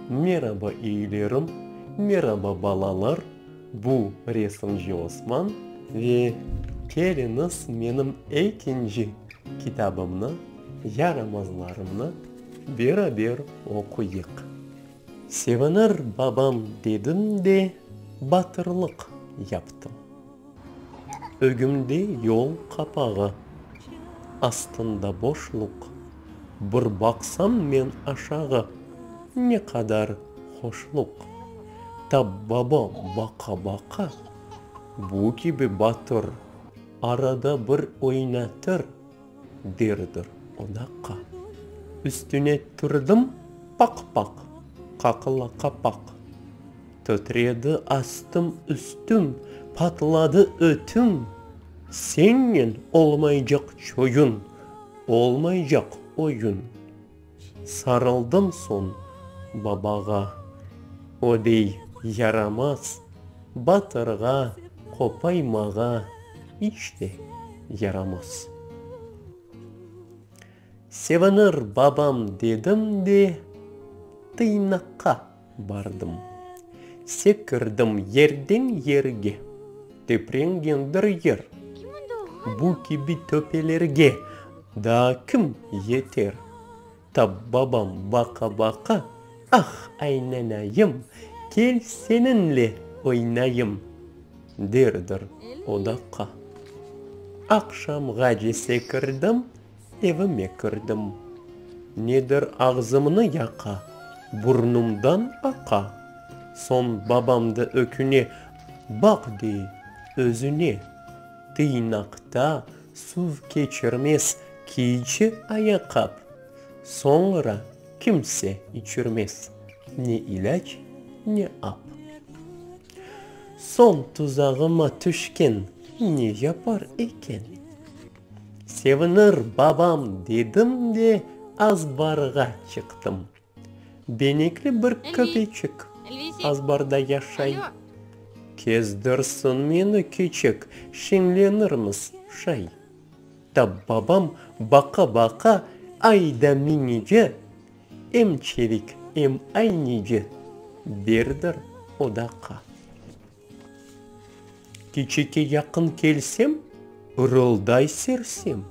Meraba iyilerim, meraba balalar, bu resimci Osman ve keliñiz menim ekinci kitabımnı, yaramazlarımnı beraber oquyıq. Sevinir babam dedim de batırlıq yaptım. Ögümde yol qapağı, astında boşluq, Bir baqsam men aşağı, ne qadar hoşluq! Tabbaba baqa-baqa, bu kibi batır, Arada bir oynatır, derdir o daqa. Üstüne turdım, paq-paq, qaqıla qapaq. Tötredi astım-üstüm, patladı ötüm, Sennen olmaycaq çoyun, olmaycaq oyun. Sarıldım soñ babağa, o dey, Yaramaz, batırğa, qopaymağa iç te yaramaz. Sevinir babam dedim de, tıynaqqa bardım. Sekirdim yerden yerge, teprengendir yer. Bu kibi töpelerge daa kim yeter? Tap babam baqa-baqa, ah, aynanayım, kel seninle oynayım, derdir odaqqa. Aqşamğace sekirdim, Evime kirdim. Nedir ağzımnı yaqa, burnumdan aqa. Soñ babamdı öküne, baq dey, özüne. Tıynaqta suv keçirmez kiyci ayaqap. Soñra kimse içirmez ne ilâc, ne ap. Soñ tuzağıma tüşken ne yapar eken? Sevinir babam dedim de azbarğa çıqtım. Benekli bir köpeçik azbarda yaşay. Kezdirsin meni kiçik, şeñlenirmiz şay. Da babam baqa-baqa ayda minice, em çevik, em aynece, birdir odaqa. Keçeke yaqın kelsem, ırılday sersem,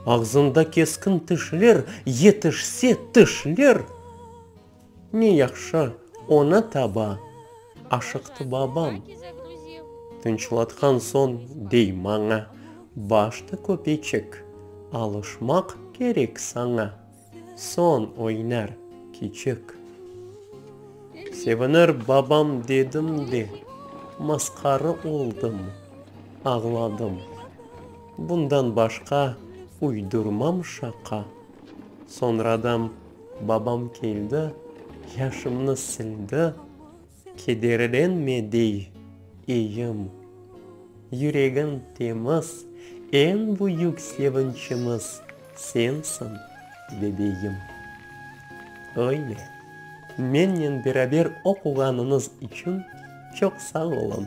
Ağzında keskin tişler, yetişse tişler. Ne yahşı, ona taba aşıqtı babam. Tınçlatqan soñ dey maña, Baştı köpeçik, alışmaq kerek saña. Soñ oynar kiçik. Sevinir babam dedim de, masqara oldım, ağladım. Bundan başqa uydurmam şaqa. Soñradan babam keldi, yaşımnı sildi. Kederden me dey eyim. Yüregim temiz, eñ büyük sevinçimiz sensiñ, bebeyim. Öyle, mennen beraber oquğanıñız içün çoq sağ oluñ.